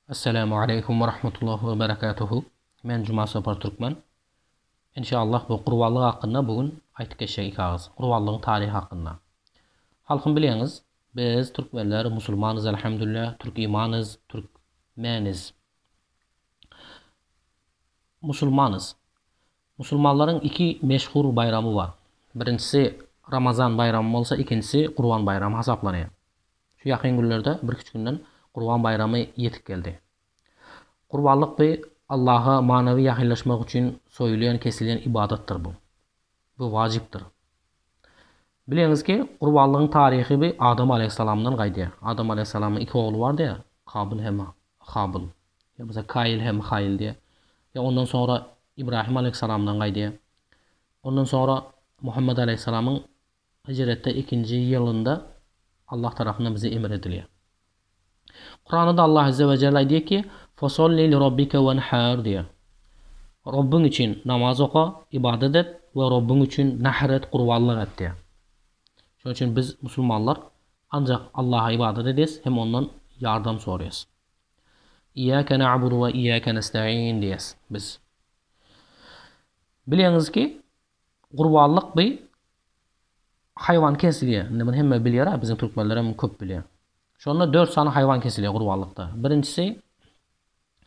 Assalamu aleykum we rahmetullah we berekatuhu. Men Juma Sapar Türkmen. Inşallah bu gurbanlyk hakynda bu gün aýtyp geçjek iki agyz. Gurbanlygyň taryhy hakynda. Halkym bilýäňiz, biz türkmenler musulmanyz elhamdülillah, türk imanyz, türk meniz. Musulmanyz. Musulmanlaryň iki meşhur baýramy bar. Birinjisi Ramazan baýramy bolsa, ikinjisi Gurban baýramy hasaplanýar. Şu ýakyn günlerde, birküç günden Gurban baýramy ýetip geldi. Gurbanlyk bi Allaha manawy ýakynlaşmak üçin soýulýan, kesilýän ybadatdyr bu. Bu wajypdyr. Bilýäňiz ki, gurbanlygyň taryhy bi Adam alaýhyssalamdan gaýdýar. Adam alaýhyssalamyň iki ogly bardy ýa, Kabyl hem Habyl. Ýa bolsa Kaýyl hem Haýyl diýýär. Ýa ondan soňra Ibrahim aleýhissalamdan gaýdýar. Ondan soňra Muhammet aleýhissalamyň hijretde ikinji ýylynda Allah tarapyndan bize emir edilýär. Kuranda Allah azze we jelle aýdýar ki, Fosolli li robbike wenhar diýýär. Robbyň üçin namaz oka, ybadat et we Robbyň üçin nahr et, gurbanlyk et diýýär. Şonuň üçin biz musulmanlar Ancak Allaha ybadat edýäs hem ondan ýardam soraýas. Iyyake na'budu ve iyyake nesta'in diýýäs biz. Bilýäňiz ki, gurbanlyk bi haýwan kesilýär. Indi muny hemme bilýär-ä, biziň türkmenler hem köp bilýär. Şonda dört sany haýwan kesilýär gurbanlykda. Birinjisi,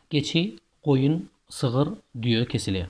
geçi, goýun, sygyr, düýe kesilýär.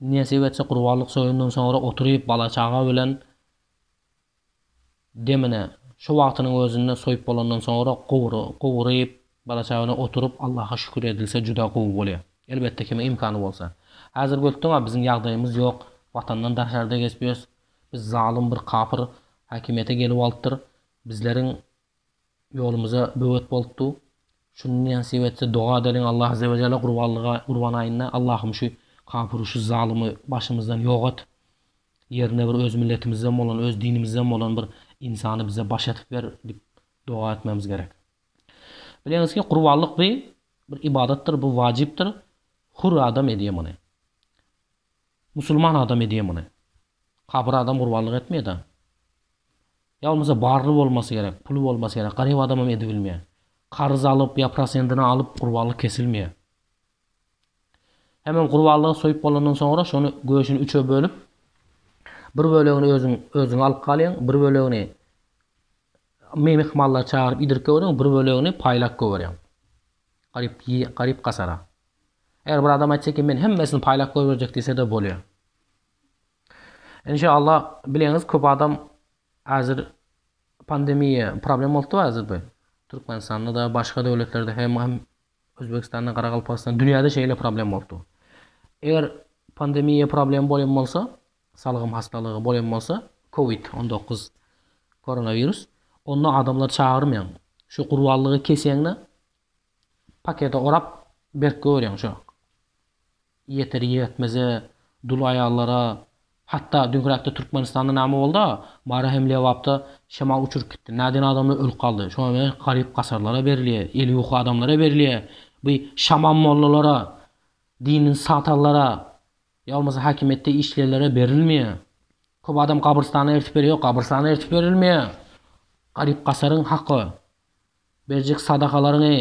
Nesip etse Gurbanlyk soýundan soňra oturyp bala çaga bilen demine şu wagtynyň özünde soýup bolandan soňra gowry gowryp bala çaga bilen oturyp Allaha şükür edilse juda gowy bolýa. Elbetde kimiň imkany bolsa. Hazir götdüňa biziň ýagdaýymyz ýok watandan daşarda geçip ýörüs biz zalym bir kapyr hakimiýete gelip alypdyr bizleriň Ýolumyza böwet bolup dur. Şuny nesip etse doga edeliň Allah azewejelle gurbanlyga gurban aýynda Allahym şu kapyry şu zalymy başymyzdan ýok et. Ýerine bir öz milletimizden bolan öz dinimizden bolan bir ynsany bize baş edip ber dip doga etmemiz gerek. Bileňiz ki gurbanlyk bi bir ybadatdyr bu wajypdyr hur adam edýä muny. Musulman adam edýä muny. Kapyr adam gurbanlyk etmeýä da. Ýa bolmasa barly bolmasy gerek, puly bolmasy gerek, garyp adamam edibilmeýär. Karz alyp ýa prosendine alyp gurbanlyk kesilmeýär. Hemem gurbanlygy soýup bolandan soňra şony göşüni üçe bölüp, bir bölegini özüň özüňe alyp galýaň, bir bölegini myhmanlary çagyryp iýdirip göberiň, bir bölegini paýlap göberýäň. Garyp garyp gasara. Eger bir adam aýtsa eken men hemmesini paýlap göberjek diýse-de bolýar. Enşalla bileňiz köp adam hazir pandemiýa problem bolupdyr hazirde Türkmenistanda-da başga döwletlerde hem hem Özbegistanda Garagalpagystanda dünýäde şeýle problem bolupdyr. Eger pandemiýa problem bolan bolsa salgym hastalygy bolan bolsa covid on dokuz koronawirus onda adamlar çagyrmaýaň şu gurbanlygy kesýäňde pakete orap berk goýurýaň şo Ýeter-ýetmeze, dul aýallara, hatda düňräkde Türkmenistanda näme boldy-a, Mary hem Lebapda şemal uçuryp gitdi. Näden adamlar ölüp galdy? Şoňa meňzeş garyp-gasarlara berilýär, eli ýuka adamlara berilýär. Bu şaman mollalara, dini satallara ýa bolmasa häkimiýetde işleýänlere berilmeýär. Köp adam gabrystana eltip berýär. Ýok, gabrystana eltip berilmeýär. Garyp-gasaryň haky, berjek sadakalaryňy,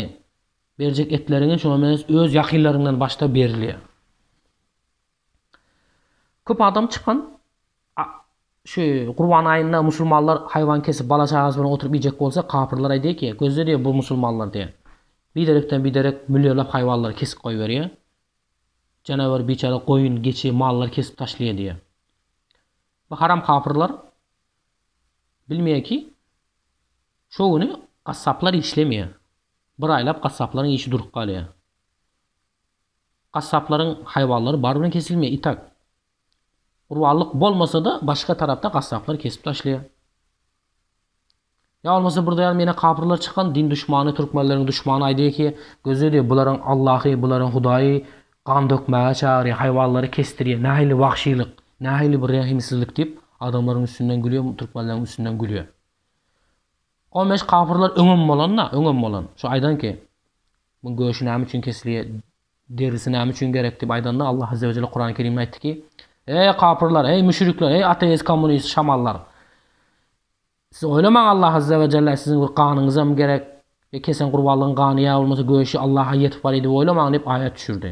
Berjek etleriňe şoňa meňzeş öz ýakynlaryňdan başda berilýär. Köp adam çykan şu Gurban aýynda musulmanlar haýwan kesip bala çagasy bilen oturyp iýjek bolsa kapyrlar aýdýar ki gözle diýýär bu musulmanlar diýýär. Biderekden biderek millionlap haýwanlary kesip goýberýär. Janawar biçäre goýun, geçi, mallary kesip taşlaýar diýýär. Bu haram kapyrlar bilmeýär ki şo güni gassaplar işlemeýär. Bir aýlap gassaplaryň işi durup galýar. Gassaplaryň haýwanlary bary bilen kesilmeýär, itak. Gurbanlyk bolmasa-da, başga tarapda gassaplar kesip taşlaýar. Ýa bolmasa bir daýan menä kapyrlar çykan, din duşmany, türkmenleriň duşmany aýdýar ki, gözle diýýär, bularyň Allahy, bularyň Hudaýy gan dökmäge çagyrýar, haýwanlary kesdirýär, nähili wagşylyk, nähili bir rehimsizlik diýip, adamlaryň üstünden gülýär, türkmenleriň üstünden gülýär. On bäş kapyrlar öňem bolan-da, öňem bolan. Şu aýdan ki, Muň göşi näme üçin kesilýär, derisi näme üçin gerek diýip aýdanda, Allah Azze we Jelle Kurany Kerimde aýtdy ki, Eý, kapyrlar, eý, müşrikler, eý, ateist, kommunist, şamallar! Siz oýlamaň, Allah Azze we Jelle siziň bir ganyňyzam gerek, ýa kesen gurbanlygyň gany ýa bolmasa göşi Allaha ýetip bar-eý diýip oýlamaň diýip aýat düşürdi.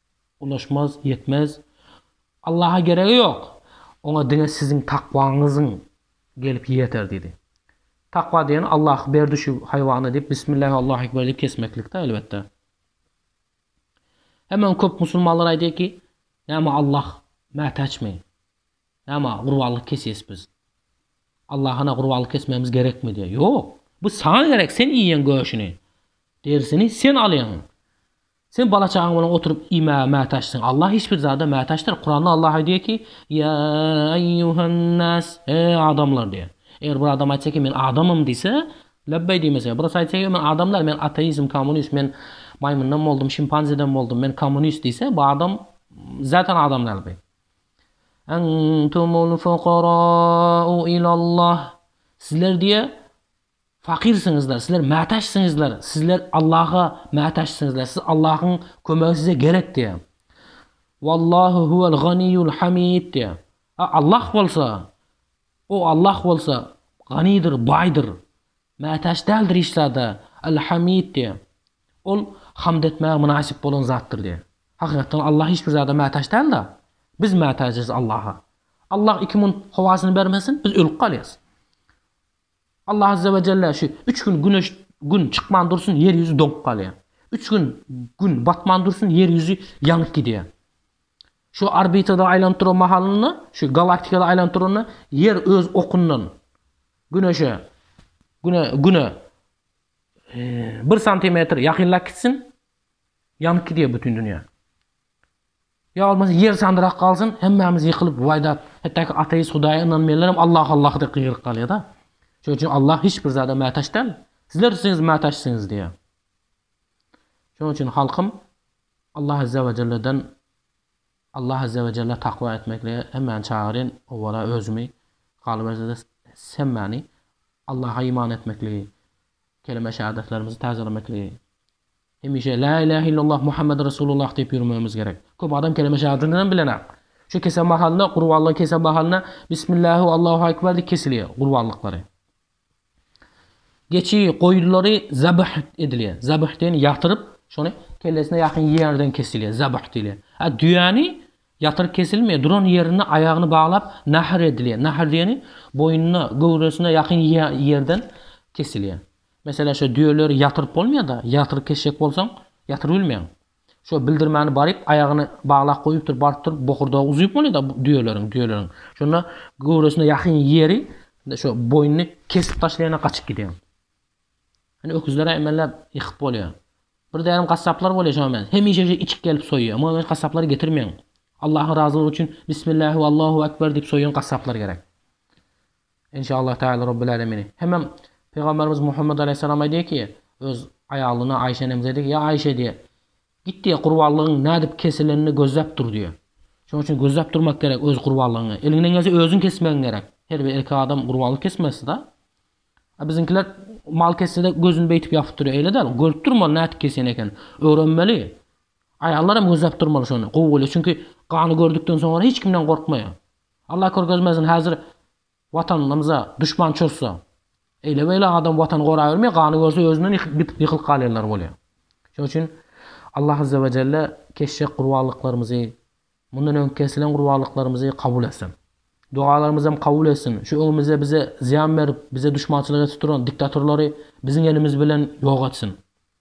Ulaşmaz, ýetmez. Allaha geregi ýok. Oňa diňe siziň takwaňyzyň gelip ýeter diýdi. Takwa diýen Allah berdi şu haýwany diýip Bismillah Allahu ekber diýip kesmeklikde elbetde. Hemen köp musulmanlar aýdýar ki, näme Allah mätäçmi? Näme gurbanlyk kesýäs biz? Allahana gurbanlyk kesmegimiz gerekmi diýýär. Ýok. Bu saňa gerek, sen iýýäň göşüni, derisini sen alýaň. Sen bala-çagaň bilen oturyp iýmäge mätäçsiň. Allah hiç bir zada mätäçdir. Kuranda Allah aýdýar ki, Ýa eýýuhan-nas, e, adamlar diýýär. Eger bir adam aýtsa ki, men adamym diýse, lebbeý diýmese, birisi aýtsa ki, men adam däl, men ateizm, kommunist, men maýmyndan boldum, şimpanzeden boldum, men kommunist diýse, bu adam zaten adam däl bi. Entumul fukarau ilallah. Sizler diýýär, Fakyrsyňyzlar, sizler mätäçsiňizler, sizler Allaha mätäçsiňizler, siz Allahyň kömegi size gerek diýýär. Wallahu huwel ganiýul hamid diýýär. A Allah bolsa, O Allah bolsa ganydyr, baýdyr, mätäç däldir hiç zada, El Hamid diýýär. Ol hamd etmäge mynasyp bolan zatdyr diýýär. Hakykatdan Allah hiç bir zada mätäç däl-de, biz mätäçiz Allaha. Allah iki mün howasyny bermesin, biz ölüp galýarys. Allah azze we jelle şu üç gün güneş gün çykman dursun ýer ýüzi doňup galýar. Üç gün gün batman dursun ýer ýüzi ýanyp gidýär. Şu orbitada aýlanyp duran mahalynda, şu galaktikada aýlanyp duranda ýer öz okundan güneşe güne güne bir santimetr ýakynlap gitsin ýanyp gidýär bütün dünýä. Ýa bolmasa ýer sandyrak galsyn, hemmämiz ýykylyp, waýdap, hetdäki ateist hudaýa ynanmaýanlaram Allah Allah diýip gygyryp galýada. Şonuň üçin Allah hiç bir zada mätaç däl. Sizler üçin mätaçsyňyz diýýär. Şonuň üçin halkym Allah azza we jelleden Allah azza we jelle takwa etmeklige hemmäni çagyrýan, owwala özümi, galyberse-de hemmäni Allaha iman etmekligi, kelime-şahadatlarymyzy täzelemekligi, Hemişe Lä ilähe illallah Muhammedi Resulullah diýip ýürmegimiz gerek. Köp adam keleme şehadetinem bilenok. Şu kese mahalynda, gurbanlygyň kese mahalynda Bismillähu Allahu Ekber diýip kesilýär gurbanlyklary. Geçi, goýulary zabh edilýär. Zabh diýeni ýatyryp, şony kellesine ýakyn ýerden kesilýär, zabh diýilýär. A düýäni ýatyryp kesilmeýär, duran ýerinde aýagyny baglap nahr edilýär. Nahr diýeni boýnuna, göwresine ýakyn ýerden kesilýär. Meselem şo düýeleri ýatyryp bolmaýada, ýatyryk keşek bolsaň, ýatyrybilmeýäň. Şo bildirmäni baryp, aýagyny baglap goýupdyr, baryp durup bokurdagy uzyp bolýada düýeleriň, düýeleriň. Şonda göwresine ýakyn ýeri, şo boýnuny kesip taşlaýan-a gaçyp gidýän. Ine öküzler-ä emelläp ýykyp bolýar. Bir dänem gassaplar bolýar şoňa meňzeş. Hemişe şeýle içik gelip soýýar. Muňa meňzeş gassaplary getirmeýäň. Allahyň razylygy üçin Bismillah we Allahu Ekber diýip soýýan gassaplar gerek. Enşallah Teala Rabbil Alemini. Hemem Pygamberimiz Muhammed Aleyhisselam aýdýar ki, öz aýalyna Aişe enemize aýdýar ki, ýa Aişe diýýär, git diýýär, gurbanlygyň nädip kesilenini gözläp dur diýýär. Şonuň üçin gözläp durmak gerek öz gurbanlygyňy. Eliňden gelse özüň kesmegiň gerek. Her bir erkek adam gurbanlyk kesmesi-de. A biziňkiler mal kessede gözüni beýtip ýapyp durýar. Eýle däl, görüp durmaly nädip kesýän ekenini. Öwrenmeli. Aýallar hem gözläp durmaly şony, gowy bolýar. Çünki gany gördükden soňra hiç kimden gorkmaýar. Allah körkezmesin hazir Watanymyza duşman çozsa eýle beýle adam Watany gorabermeýär gany görse özünden ýykylyp galýanlar bolýar. Şoň üçin Allah Azzawajelle keşjek gurbanlyklarymyzy mundan öňki kesilen gurbanlyklarymyzy kabul etsin. Dogalarymyzam kabul etsin. Şu öňümizde bize zyýan berip bize duşmançylyk edip duran diktatorlary biziň elimiz bilen ýok etsin.